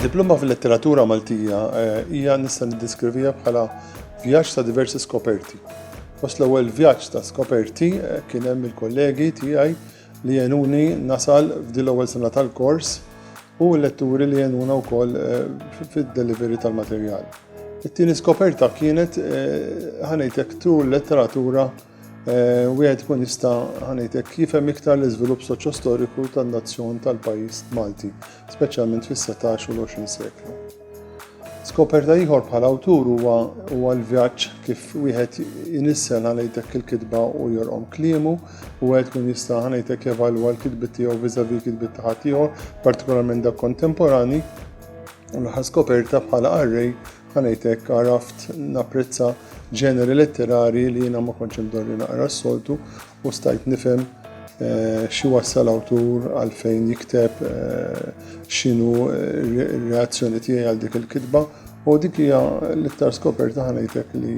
Diploma fil-letteratura Maltija eh, hija nista' niddeskrivija bħala vjaġġ ta' diversi skoperti. Fost l-ewwel vjaġġ ta' skoperti eh, kien hemm il-kollegi tiegħi li jenuni nasal f'dil ewwel sena tal-kors u l-letturi li jenuna wkoll eh, fid-delivery tal-materjal. It-tieni skoperta kienet ħanejtek tul letteratura Eh, wieħed ikun jista' ħanejtek jifhem iktar l-iżvilupp soċjostoriku tan-nazzjon tal-pajjiż Malti, speċjalment fis-17 u l-20 seklu. Skoperta ieħor bħala awtur huwa huwa l-vjaġġ kif wieħed jinissel ħanejtek il-kitba u jorqom kliemu u wieħed kun jista' ħanejtek jevalwa l-kitbi tiegħu viżavi l-kitbi ta' ħadd ieħor, partikolarment dak kontemporani, u l-ħas skoperta bħala arrej Għanajtek għaraft napprezza ġeneri letterari li jina ma konċem dorri naqra s-soltu u stajt nifem eh, xi wassal awtur għalfejn jikteb eh, xinu eh, reazzjoni tiegħi għal dik il-kitba u dik hija l-iktar skoperta ħanajtek li